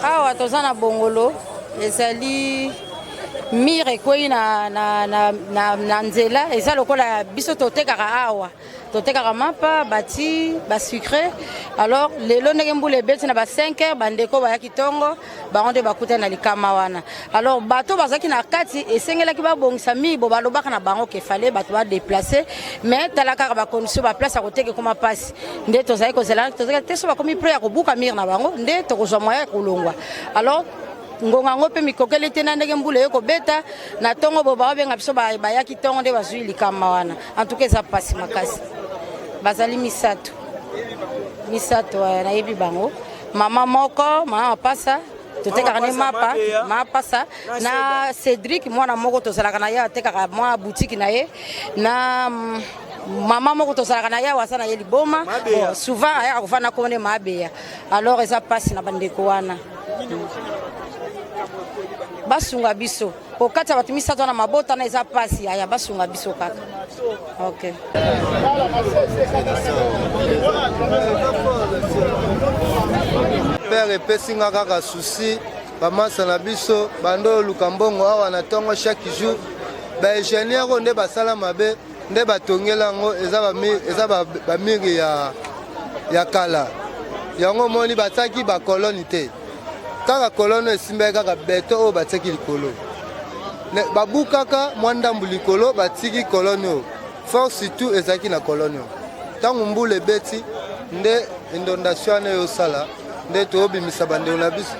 Awa toza na Bongolo ezali mire ekwei na, na, na, na, na nzela eza lokola biso totekaka awa totekaka mapa bati basucre alors lelo ndenge mbula ebeti na ba 5 heure bandeko bayaki ntongo bango nde bakutani na likama wana Alors bato bazalaki na kati esengelaki babongisa mibo balobaka na bango ke fale bato ba déplacer mais tala kaka ba condition ba place ya koteka ekoma pasi nde tozali kozela tozali te so bakomi pre ya kobuka mire na bango nde tokozwa moya ya kolongwa alors ngonga yango mpe mikokeli te na ndenge mbula eye kobeta na ntongo bo baobenga biso bayaki ntongo nde bazwi likama wana antuka eza mpasi makasi bazali misato misato eh, nayebi bango mama moko mama mapasa totekaka ne mapa mapasa na cédric mwana moko tozalaka na ye atekaka mwa butiki na ye na mm, mama moko tozalaka na ye awa aza na ye liboma bon, souvent ayaka kofanda nkombo nde maabeya alors eza mpasi na bandeko wana basunga biso kokatisa bato misato wana mabota wana eza mpasi aya basunga biso kaka ok pere epesi nga kaka susi bamasa na biso bando oyo luka mbongo awa na ntongo chaque jour baingenieur oyo nde basala mabe nde batongela yango eza bamiri ya kala yango omoni batiaki bakoloni te kaka kolono esimbaki kaka beto oyo batiaki likolo babukaka mwa ndambu likolo batiki kolone oyo fort surtout ezalaki na kolone oyo ntango mbula ebeti nde indondation wana eyosala nde toyobimisa bandeko na biso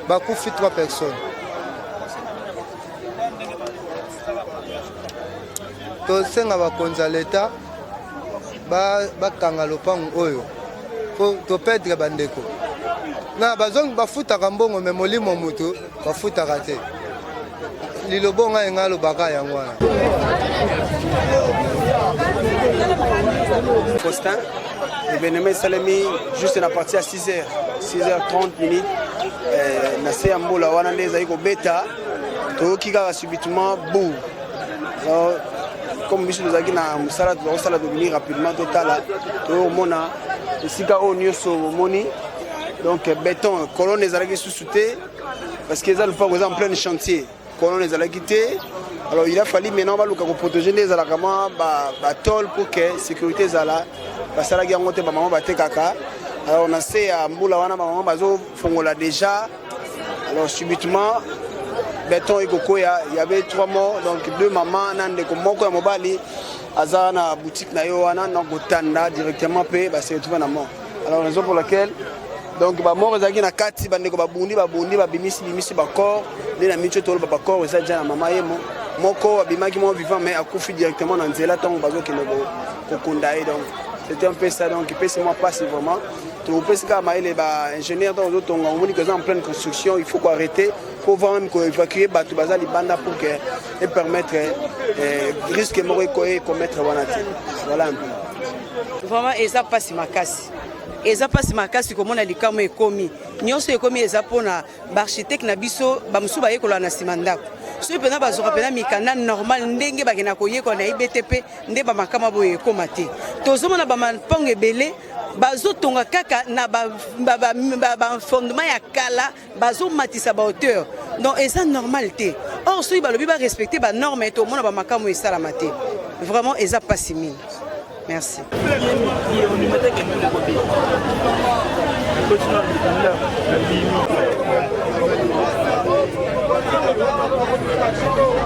bakufi 3 personnes tosenga bakonzi ya leta bakanga ba lopango oyo po topedre bandeko na bazongi bafutaka mbongo me molimo moto bafutaka te liloba ngai ngai alobaka yango wana Faustin ebenema esalemi juste na parti ya 6 heures 6 heures 30 minutes eh, na se ya mbula wana nde ezali kobeta toyoki kaka subitement bou comme biso tozalaki na mosala tozakosala tobimi rapidement totala toomona esika oyo nyonso omoni donc béton colonne ezalaki susu te parce que eza lopango eza en plein chantier colonne ezalaki te alors il a fallu maintenant baluka koprotege nde ezalaka mwa batole pour que sécurité ezala basalaki yango te bamama batekaka alors na se ya mbula wana bamama bazofongola déjà Alors subitement beton ekokoya il y avait trois morts donc deux mamans na ndeko moko ya mobali aza na boutique na yo wana na kotanda directement mpe base retrouve na mort alors raison pour laquelle donc bamort ezalaki na kati bandeko babundi babundi babimisi bimisi bacor nde na mitio toloba bacor eza ja na mama ye mo moko abimaki mwa vivant mais akufi directement na nzela ntango bazokende kokunda ye donc c'était un peu ça donc epesi mwa mpasi vraiment topesi kaka mayele ba ingénieur ntango ozotonga omoni que eza en pleine construction il faut koarrete mpo voir même koévacue bato baza libanda pour que epermettre eh, risque moko ekommettre wana te voilà un peu vraiment eza mpasi makasi eza mpasi makasi komona likambo ekomi nyonso ekomi eza mpona baarchitecte na biso bamosusu bayekola na nsima ndako soki mpenza bazwaka mpenza mikanda normal ndenge bakenda koyekola na ibtp nde bamakama boye ekoma te tozomona bamampango ebele bazotonga kaka na bafondement ya kala bazomatisa bahauteur donc eza normal te or soki balobi barespecte banorme tomona bamakambo esalama te vraiment eza mpasi mingi merci Thank you.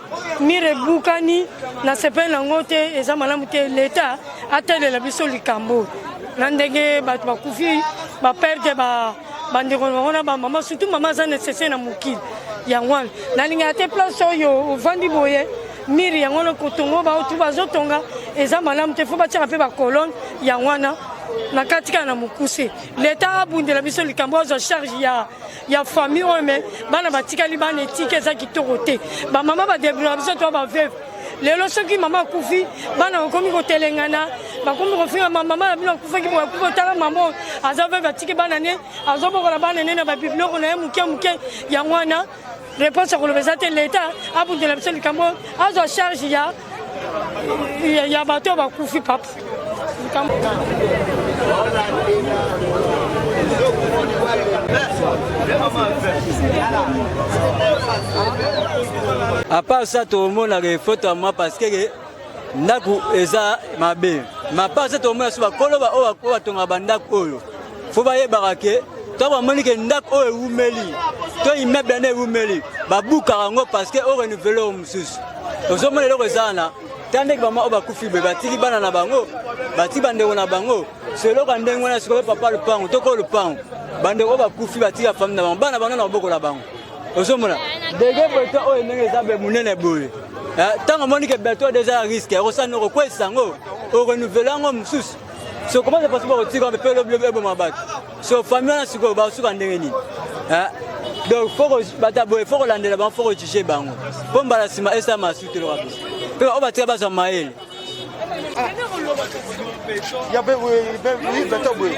mire ebukani na sepele nango te eza malamu te leta atalela biso likambo na ndenge bato bakufi baperde bandeko na bango na bamama surtout mama aza necessaire na mokili yango wana nalingaka te place oyo ovandi boye mire yango wana kotongo baotu bazotonga eza malamu te fo batiaka mpe bacolone yango wana na kati kaka na mokuse leta abundela biso likambo azwa charge ya ya famille oyo me bana batikali bana etika eza kitoko te bamama badebrouya biso to baveve lelo soki mama akufi bana bakomi kotelengana bakomi kofinga mama na bino akufaki boye akufi otala mama oyo aza veve atiki bana ne azobokola bana ne na babiblioko na ye moke moke yango wana réponse ya koloba eza te leta abundela biso likambo azwa charge ya ya bato ya bakufi papa apart ça tomonaka efoto ya mwa parce que ndako eza mabe mapart ça tomonaka so bakolo baoyo batongaka bandako oyo fo bayebaka ke ntango bamoni ke ndako oyo ewumeli to immeuble yango ewumeli babukaka yango parce que orenouvele oyo mosusu ozomona eloko eza wana ta ndenge bama oyo bakufi be batiki bana na bango batiki bandeko na bango so eloko ya ndenge wana sikoyo papa lopango toko lopango bandeko oyo bakufi batiki ya famille na bango bana bango na maboko na bango ozomona dege boto oyo ndenge eza be monene boye ntango eh, omoni ke beto deja ya riske ekosani okokwesa yango okonouvele yango mosusu so comment ça passe pas kotika wana mpe lobi lobi eboma bato so famille wana sikoyo bakosuka ndenge nini donc foko bata boye foko landela bango foko juge bango mpo mbala nsima esa masu te loka biso mpe oyo batika bazwa mayele ya be boye beta boye